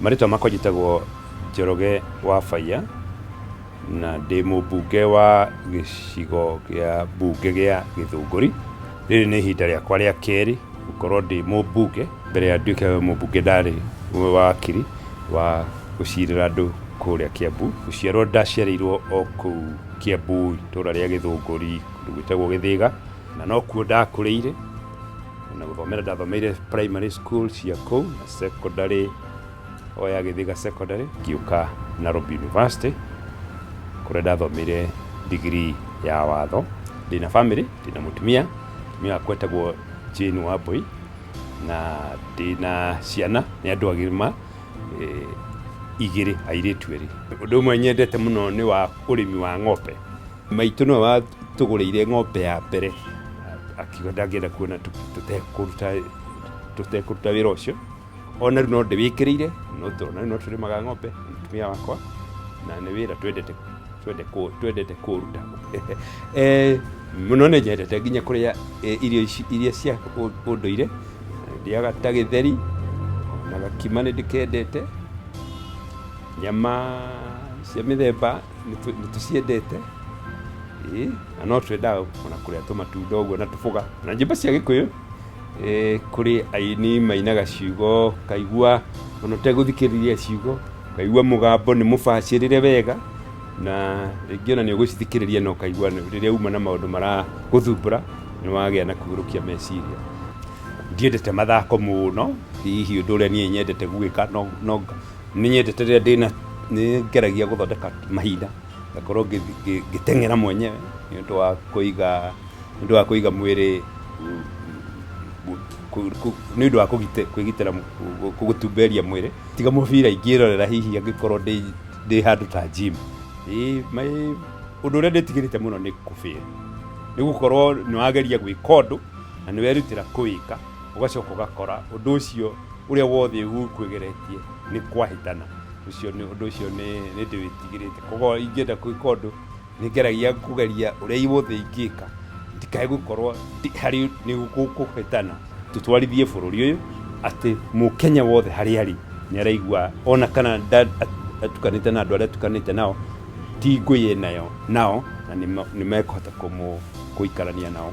marĩtwa makwa njĩtagwo njoroge wa baiya na ndĩ mũmbunge wa gĩcigo gĩa mbunge gĩa gĩthũngũri rĩrĩ nĩ ihinda rĩakwa rĩa kerĩ gũkorwo ndĩ mũmbunge mbere ya nduĩke mũmbunge ndarĩ wakiri wa gũcirĩra andũ kũrĩa kĩambu gũciarwo ndaciarĩirwo o kũu kĩambu itũra rĩa gĩthũngũri kũndũ gwĩtagwo gĩthĩga na no kuo ndakũrĩire na gũthomera ndathomeire primary school cia kũu na secondary o ya gĩthiga secondary ngĩũka Nairobi University kũrĩa ndathomeire degree ya watho ndĩna family ndĩna mũtumia mũtumia wakwa etagwo Jane Wambui na ndĩna ciana nĩ andũ agima eh, igĩrĩ airĩtu erĩ ũndũ ũmwe nyendete mũno nĩ wa ũrĩmi wa ng'ombe Maitũ nĩwe watũgũrĩire ng'ombe ya mbere, akiuga ndangĩenda kuona tũtekũruta tũtekũruta wĩra ũcio. Ona rĩu no ndĩwĩkĩrĩire, no tũrona no tũrĩmaga ng'ombe na mũtumia wakwa, na nĩ wĩra twendete twende kũ- twendete kũruta Eh, mũno nĩ nyendete nginya kũrĩa eh, irio ici- iria cia ũ- ũndũire ndĩaga ta gĩtheri na gakima nĩ ndĩkendete nyama cia mĩthemba nĩtũ- nĩtũciendete Ĩ, na no twendaga ona kũrĩa tũmatunda ũguo na tũboga na nyĩmbo cia gĩkũyũ ĩ, kũrĩ aini mainaga ciugo ũkaigua ona ũtegũthikĩrĩria ciugo ũkaigua mũgambo nĩ mũbacĩrĩre wega na rĩngĩ ona nĩ ũgũcithikĩrĩria na ũkaigua nĩ- rĩrĩa uma na maũndũ maragũthumbũra nĩ wagĩa na kũgũrũkia meciria ndiendete mathako mũno hihi ũndũ ũrĩa niĩ nyendete gwĩka no, no, nĩ nyendete rĩrĩa ndĩna nĩ ngeragia gũthondeka mahinda ngakorwo ngĩ- ngĩ- ngĩteng'era mwenyewe nĩ ũndũ wa kũiga nĩ ũndũ wa kũiga mwĩrĩ mm, mm, ku- ku- nĩ ũndũ wa kũgite- kwĩgitĩra mu- ku- ku- gũtumberia mwĩrĩ tiga mũbira ingĩrorera hihi angĩkorwo ndĩ ndĩ handũ ta gym Ĩ, mai- ũndũ ũrĩa ndĩtigĩrĩte mũno nĩ kũbĩra nĩ gũkorwo nĩ wageria gwĩka ũndũ na nĩ werutĩra kũwĩka Ũgacoka ũgakora ũndũ ũcio ũrĩa wothe ũkwĩgeretie nĩ kwahĩtana. Ũcio nĩ ũndũ ũcio nĩ nĩ ndĩwĩtigĩrĩte. Koguo ingĩenda gwĩka ũndũ, nĩ ngeragia kũgeria ũrĩa wothe ingĩka ndikae gũkorwo ndĩ harĩ nĩ gũkũhĩtana. Tũtwarithie bũrũri ũyũ atĩ Mũkenya wothe harĩa arĩ nĩ araigua ona kana nda- at- atukanĩte na andũ arĩa atukanĩte nao ti ngũĩ enayo nao na nĩ ma- nĩ mekũhota kũmũ- kũikarania nao.